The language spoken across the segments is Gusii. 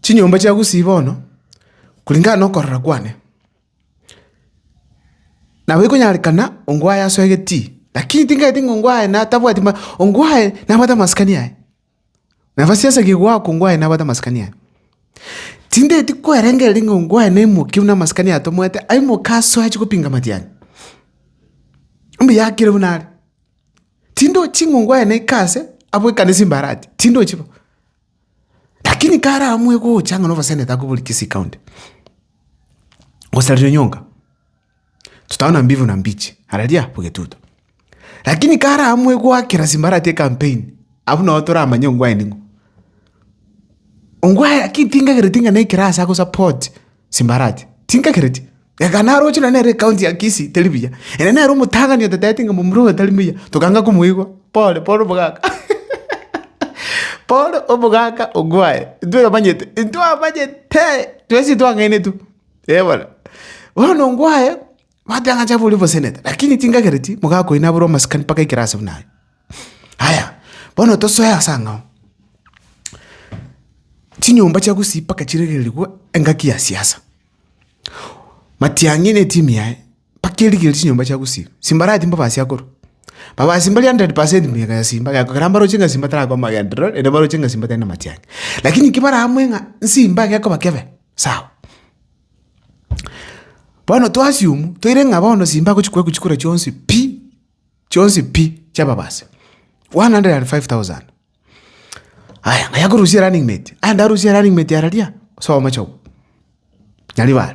Chinyomba chia Gusii bono, kuringana nokorora kwane, nabo ekonyarekana ongwae aso egetii, lakini ting'enteti ng'a ongwae natabwati ongwae nabwate amasikani aye. Naba siasegi goakwa ngwaye nabwate amasikani aye. Tindaeti kwerengereria ng'a ngwaye naimoke buna amasikani atomwete, aimoke asoe achie gopinga matiang'a. Mbuya akire buna are. Tindochi ng'a ngwaye naike ase abwo ekanisa imbarati, tindochi bo. Lakini kare aamue gocha ng'a noboseneta akoborie Kisii County, gosaria onyonga. Tutaona mbivu na mbichi, hararia bwegetuto. Lakini kare amwe gwakera simbarati campaign, abu nao toramanye ongwae ning'o. Ongwae lakini tingagereti ng'a naikera asa go support simbarati. Tingagereti. Ega naroche na nere county ya Kisii teri buya. Ere nere omotang'ani otatete ng'a momura oyo tari muya. Tokanga komoigwa. Pole, pole omogaka. Pole omogaka ongwae. Intwe twamanyete, intwamanyete. Twesi twang'ainetwe. Eh, bono. Bono ngwaye, bateba ng'a Java oria omosenete, lakini tingagereti mogaka oino abore omasikani mpaka ekero ase buna aye. Aya, bono tosoe ase ang'ao. Chinyomba chia Gusii mpaka chiregererigwe engaki ya siasa. Matiang'i na etimu yaye, bakerigereria chinyomba chia gosiiba, simbarati mbabasie akorwa. Mbabasie mbaria hundred percent mega ya simba, egento kera mbaroche ng'a simba tarakwa amagenderero, naende mbaroche ng'a simba tari namatiang'i. Lakini ki bare amwe ng'a nsimba gekoba kebe, sawa. Bono to assume, toire ng'a bono simba agochi koewa chikura chionsi pi, chionsi pi, chia mbabasie, one hundred and five thousand. Aya, ng'ai akorusia erunning mate, aye ndarusie erunning mate araria, ase omochie obo, Nyaribare.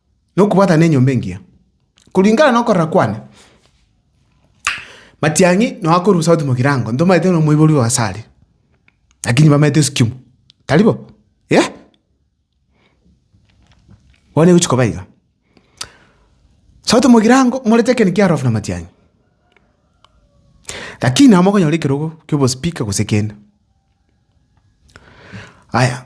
nokobwatana enyomba engiya, koringana nokorora kwane. Matiang'i noo akorwa South Mogirango, ntomaete na omoibori oye ase are, lakini bamaete esukimu, tari bo? Yea! Bono egochi koba iga, South Mogirango morete ekero kiarofu na Matiang'i, lakini nabo mokonyora ekerogo kia obospeaker gose kende. Aya.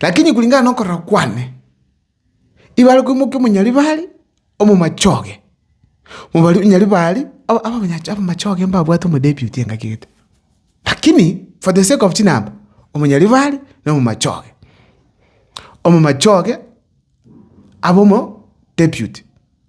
Lakini kulingana nokorora kwane, ibare koimokia omonyaribari omomache oye, omonyaribari abamache oye mbabwate omodebiuti engaki egete. Lakini for the sake of chinamba, omonyaribari na omomache oye, omomache oye abe omodebiuti.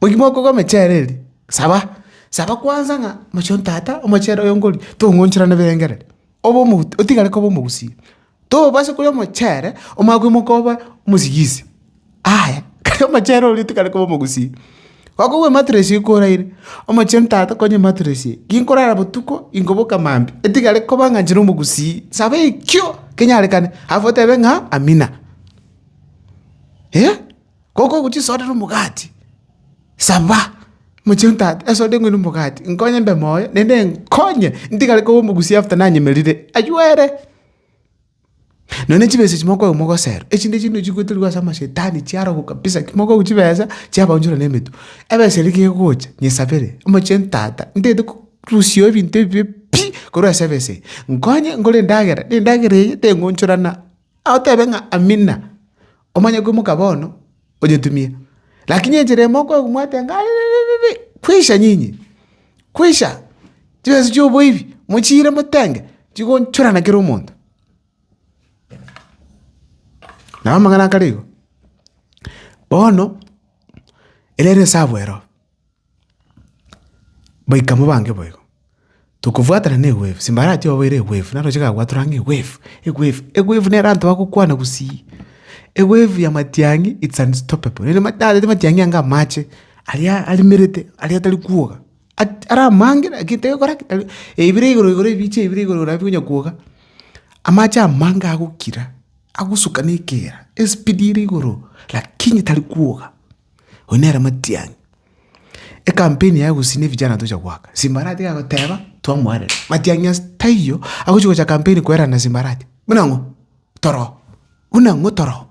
Mogima okogwa emechere eria, saba, saba kwansa ng'a mochi o tata omochere oyo nkoria tong'oncharane birengereri, obe omot otigare koba omogusie. Tobasa koria omochere omanye koimoka obe omosigisi, aya kare omochere oria otigare koba omogusie. Gokogwa ematress eria koraire, omochi o tata konya ematress eye, ginkorara botuko ginkoboka maambia, etigare koba ng'a inche nomogusii, saba ekio kenyarekane alafu otebe ng'a amina. Goka ogochia esoda na omogati, saba, mochie o tata, esoda eng'we na omogati, nkonye mbe moyo, naende nkonye ntigare koba omogusia after nanyemerire, aywo ere. Nonya chibesa echi mokwegwa mogosero, echinde chinde chigoterigwa ase amashetani chiarogo kabisa, ekero mokwegwa chibesa, chiabaunchora na emetwe. Ebesa eria ekero egocha, nyesabere, mochie o tata, ntagete korusioo ebinto ebibe pi korwa ase ebesa eye, nkonye nkore endagera, na endagera eye teng'onchorana. Agoteebe ng'a Amina, omanye koimoka bono, onyetumie. Lakini enchera ime okoegwa mwateba ng'a ariririririri, kwisha nyinyi, kwisha, chibesa chioboibi mochiire motenge, chigonchorana kera omonto. Nabo amang'ana akare igo. Bono, ere ere esabu ero. Baika mobange boigo. Tokobwatana ne wave, simba arati oboire wave, naroche gabwatorwa ng'a wave, wave, wave nere abanto bagokwana gosii. Wave ya matiang'i it's unstoppable. Rende natete matiang'i anga amache, aria arimerete, aria atari kwoga. At- ara amange lakini tegokora ki, tari, ebire igoro igoro ebiche ebire igoro igoro nabikonya kwoga. Amache amange agokira, agosuka na ekeera, espeed ere igoro, lakini tari kwoga. Oyio nere matiang'i. Ecampaign yaye gose ne vijana tocha goaka, simbarati iga goteba twamoarera. Matiang'i ase taiyo, agochi gocha campaign koerana simbarati. Buna ng'o? Toroo. Buna ng'o? Toroo.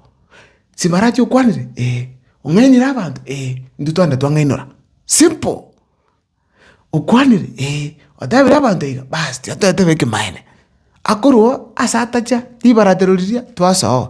Simbarati okwanire? Ee. Ong'ainire abanto? Ee. Intwe twagenda twang'ainora. Simple. Okwanire? Ee. Otebire abanto iga? Baas, tiga toetebe ekemanera. Akorwa oo, ase atacha, ribaratero riria, twasoa oo.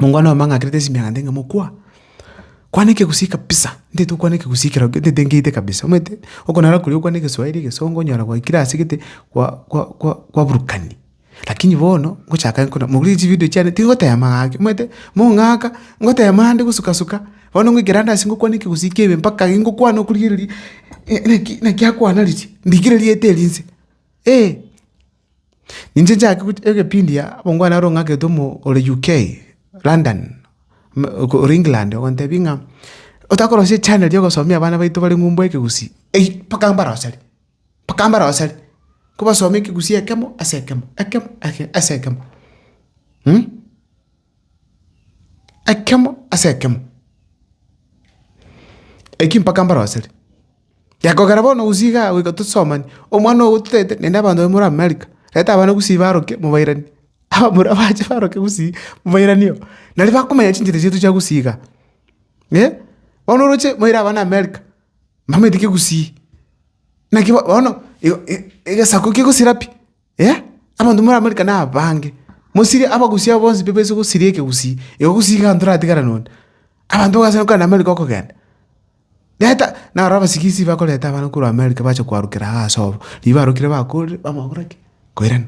Mongwana oyomo ang'akerete esimi agantebia ng'a mokwa, kwana ekegusii kabisa, ntaete gokwana ekegusii ekero gete ntaete nkeite kabisa, omanyete okonara koria okwane egeswairi, egesongo, onyora gwaikire ase gete kwa kwa kwa kwaburukani. Lakini bono, ngochaka nkona mobuya chividio chiane tingotema gaki, omanyete, mong'aka, ngotema ande gosuka suka, bono ngoikera ande ase ngokwana ekegusii kiabe mpaka aye ngokwana okorigereria ng'a naki naki akwana riria, ndigireria eteri inse, eeh. Inche nchake gochi- egepindi aa, obongwana oro ng'akete omo ore UK, London, m- oko- ore England ogontebia ng'a otakorosia echannel ya ogosomia abana baito bare ng'umbu ekegusii, ei, mpaka mbaroseri, mpaka mbaroseri, kobasomia ekegusii ekemo ase ekemo, ekemo ake ase ekemo. Ekemo ase ekemo, eki mpaka mbaroseri. Gekogera bono gose igaa goika tosomani, omwana ogo totaete naende abanto baria more America, reta abana gosii baroke mobairani, abamura bache baroke gosii mobairani oo. Nario bakomanya chinchera chiaito chia gosii igaa. Bono oroche moire abana America, mbamaete ki gosii? Naki bono igo i- i- egesaku kegosira pi? Ee, abanto moramarika nabange. Mosirie abagusia abo bonsi pebaise gosiria ekegusii, igo gusii iga nto ratigara nonde. Abanto bagase gokora namarika okogenda. Reta, naro abasigisi bakoreta abana korwa America bache koarokera iga ase obo. Riria barokire bakorire, bamanya gokora ki? Koirana.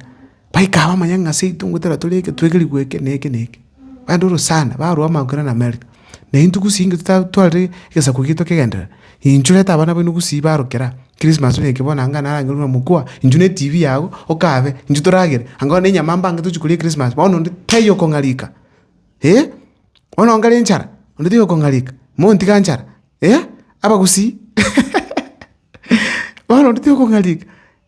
Baikaaba amanyang'a seito ngotera tore eke, twege rigwe eke na eke na eke. Bande orosana, barwa bamanya koirana America. Na intwe gusii inge totaba twarire egesaku giaito kegenderere, inchuo reta abana baino gusii barokera Christmas oyoike bono anga narenge buna mokwa, inchuo ne TV yago okabe, inchuo toragere, anga bono ne enyama mbange tochi koria Christmas, bono onde taiyo kong'arika, eh, bono onga ere enchara, onde taiyo kong'arika, montiga nchara, eh, abagusii, bono onde taiyo kong'arika.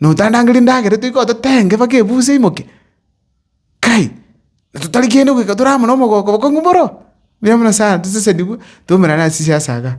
Notandangeria endagera etoigo ototenge mpaka ebusa eimoke? Kai, totari kende goika tore amo nomogooko bokong'u boro? Rirorio buna Sara tosesenigwe, tomerane ase chiasaga.